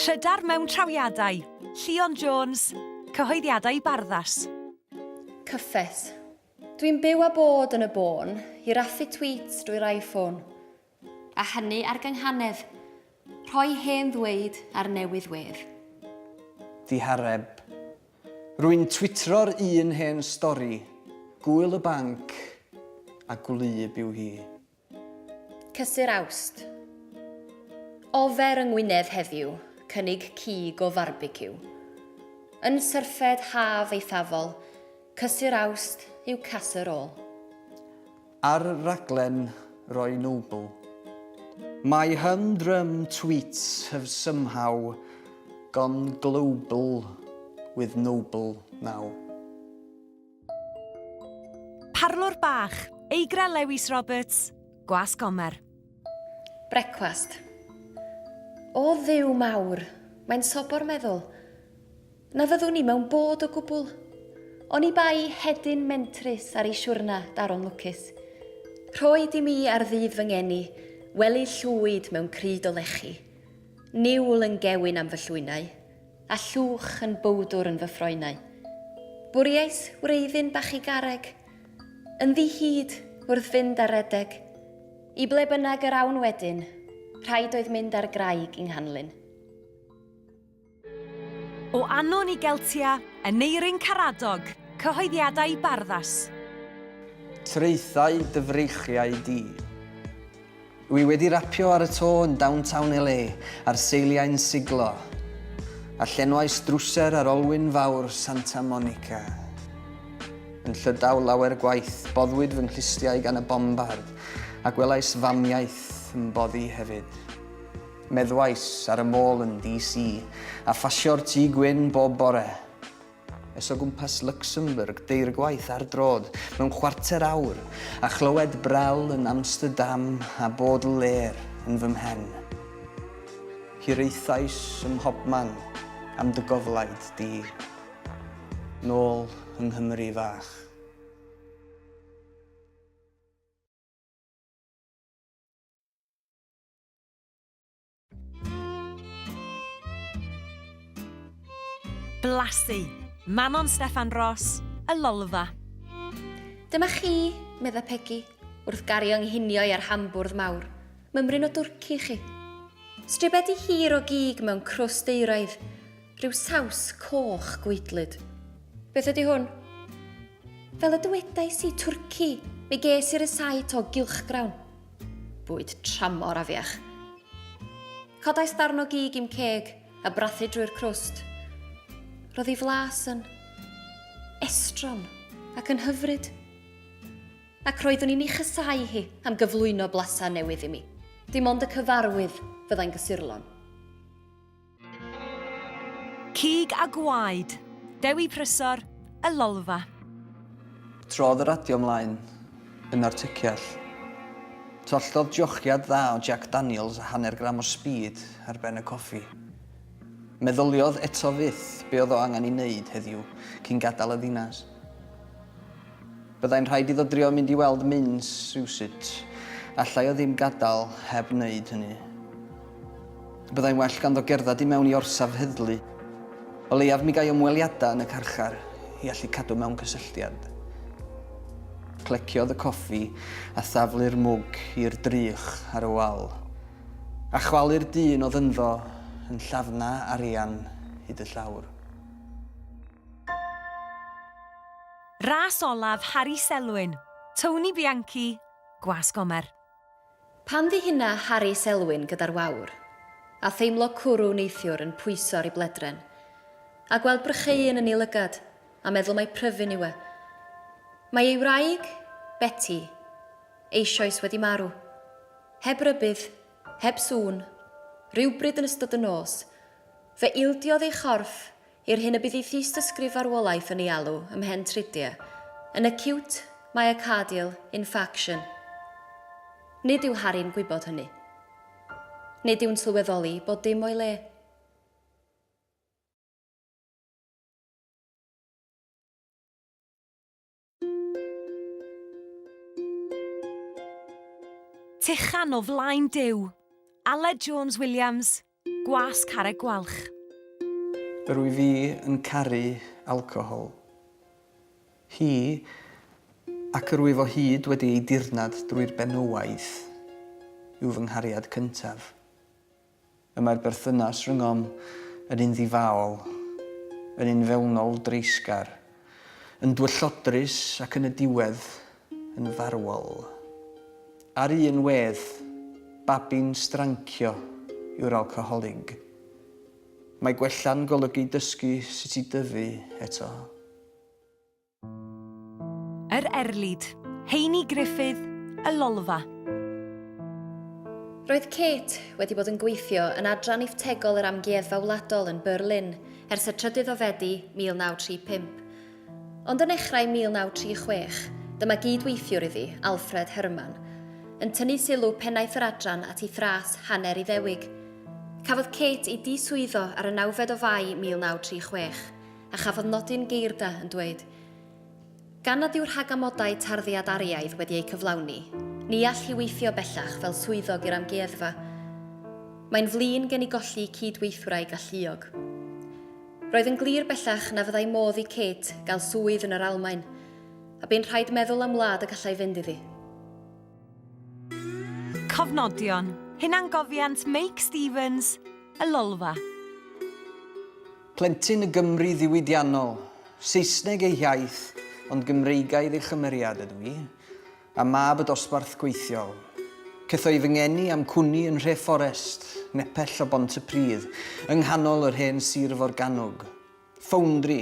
Trydar mewn trawiadau, Llion Jones, cyhoeddiadau i Barddas. Cyffes. Dwi'n byw a bod yn y bôn, i raffu tweets drwy'r iPhone. A hynny ar gynghanedd, rhoi hen ddweud ar newydd wedd. Ddihareb. Rwy'n twitro'r un hen stori, Gŵyl y Banc a gwlyb yw hi. Cysur Awst. Ofer yng Ngwynedd heddiw, cynnig cig o farbeciw. Yn syrffed haf eithafol, Cysur Awst yw Casur Ôl. Ar raglen Roy Noble. My humdrum tweets have somehow gone global with Noble now. Parlwr bach, Eigra Lewis Roberts, Gwas Gomer. Brecwast. O Dduw mawr, mae'n sobor meddwl. Na fyddwn i mewn bod o gwbl. Oni bai hedyn mentrus ar ei siwrna daron lwcus. Rhoi di mi ar ddydd fy ngeni, wely llwyd mewn cryd o lechi. Niwl yn gewyn am fy llwynau. A llwch yn bowdwr yn fy ffroenau. Bwriais wreiddyn bach i garreg. Yn ddi-hid, wrth fynd ar redeg. I ble bynnag yr awn wedyn, rhaid oedd mynd ar graig i Nghanlyn. O Anon i Geltia, Aneurin Caradog, Cyhoeddiadau Barddas. Traethau dy freichiau di. Dw i wedi rapio ar y to yn downtown LA ar seiliau'n siglo, a llenwais drwser ar olwyn fawr Santa Monica. Yn Llydaw lawer gwaith, boddwyd fy nghlustiau gan y bombard, a gwelais famiaith yn boddi hefyd. Meddwais ar y môl yn DC, a phasio'r Tŷ Gwyn bob bore. es o gwmpas Luxembourg deir gwaith ar droad mewn chwarter awr, a chlywed Brel yn Amsterdam a Baudelaire yn fy mhen. Hiraethais ym mhobman am dy goflaid di. Nôl yng Nghymru fach. Blasu! Manon Steffan Ros, Y Lolfa. Dyma chi, medda Pegi, wrth gario nghinioi ar hambwrdd mawr, mymryn o dwrci chi. Stribedi hir o gig mewn crwst euraidd, rhyw saws coch gweidlyd. Beth ydy hwn? Fel y dywedais i, twrci, mi ges i'r ysait o gylchgrawn. Bwyd tramor afiach. Codais darn o gig i'm ceg a brathu drwy'r crwst. Roedd ei flas yn estron ac yn hyfryd. Ac roeddwn i'n ei chysau hi am gyflwyno blasau newydd i mi. Dim ond y cyfarwydd fyddai'n gysurlon. Cig a gwaed, Dewi Prysor, Y Lolfa. Trodd y radio mlaen yn artyciall. Twalltodd jochiad dda o Jack Daniels a hanner gram o speed ar ben y coffi. Meddyliodd eto fyth be oedd o angen ei wneud heddiw cyn gadael y ddinas. Byddai'n rhaid iddo drio mynd i weld Minns rywsut. Allai o ddim gadael heb wneud hynny. Byddai'n well ganddo gerdded i mewn i orsaf heddlu. O leiaf mi gai ymweliadau yn y carchar i allu cadw mewn cysylltiad. Cleciodd y coffi a thaflu'r mwg i'r drych ar y wal. A chwalu'r dyn oedd ynddo yn llafna arian hyd y llawr. Ras olaf Harri Selwyn, Tony Bianchi, Gwas Gomer. Pan ddihyna Harri Selwyn gyda'r wawr, a theimlo cwrw neithiwr yn pwyso ar ei bledren, a gweld brycheuyn yn ei lygad, a meddwl mai pryfyn yw e. Mae ei wraig, Beti, eisioes wedi marw. Heb rybudd, heb sŵn, rywbryd yn ystod y nos, fe ildiodd ei chorff I'r hyn y bydd ei thystysgrif farwolaeth yn ei alw ym mhen tridia, yn acute myocardial infarction. Nid yw Harry'n gwybod hynny. Nid yw'n sylweddoli bod dim o'i le. Tychan o flaen Duw. Aled Jones Williams, Gwas Carreg Gwalch. Rwy fi yn caru alcohol. Hi, ac rwyf o hyd wedi ei dirnad drwy'r benywaidd, yw fy nghariad cyntaf. Y mae'r berthynas rhyngom yn un ddifaol, yn un fewnol dreisgar, yn dwyllodrus ac yn y diwedd, yn farwol. Ar un wedd, babi'n strancio yw'r alcoholig. Mae gwella'n golygu dysgu sut i dyfu eto. Yr Erlid, Heini Griffith, Y Lolfa. Roedd Kate wedi bod yn gweithio yn Adran Iftegol yr Amgueddfa Wladol yn Berlin ers y trydydd o Fedi 1935. Ond yn nechrau 1936, dyma gyd-weithiwr iddi, Alfred Herrmann, yn tynnu sylw pennaeth yr adran at ei thras hanner Iddewig. Cafodd Kate ei diswyddo ar y nawfed o Fai 1936. A chafodd nodyn geirda yn dweud, Gan nad yw rhag amodau tarddiad ariaidd wedi eu cyflawni, ni all hi weithio bellach fel swyddog i'r Amgueddfa. Mae'n flin gen i golli cyd-weithwraig galluog. Roedd yn glir bellach na fyddai modd i Kate gael swydd yn yr Almaen, a bu'n rhaid meddwl am wlad y gallai fynd iddi. Cofnodion, Hunangofiant Meic Stevens, Y Lolfa. Plentyn y Gymru ddiwydiannol. Saesneg ei hiaith, ond Gymreigaidd ei chymeriad ydw i, a mab y dosbarth gweithiol. Cetho'i fy ngeni a'm cwni yn nhre Fforest, nepell o Bont-y-pridd, yng nghanol yr hen sir forgannwg. Ffowndri!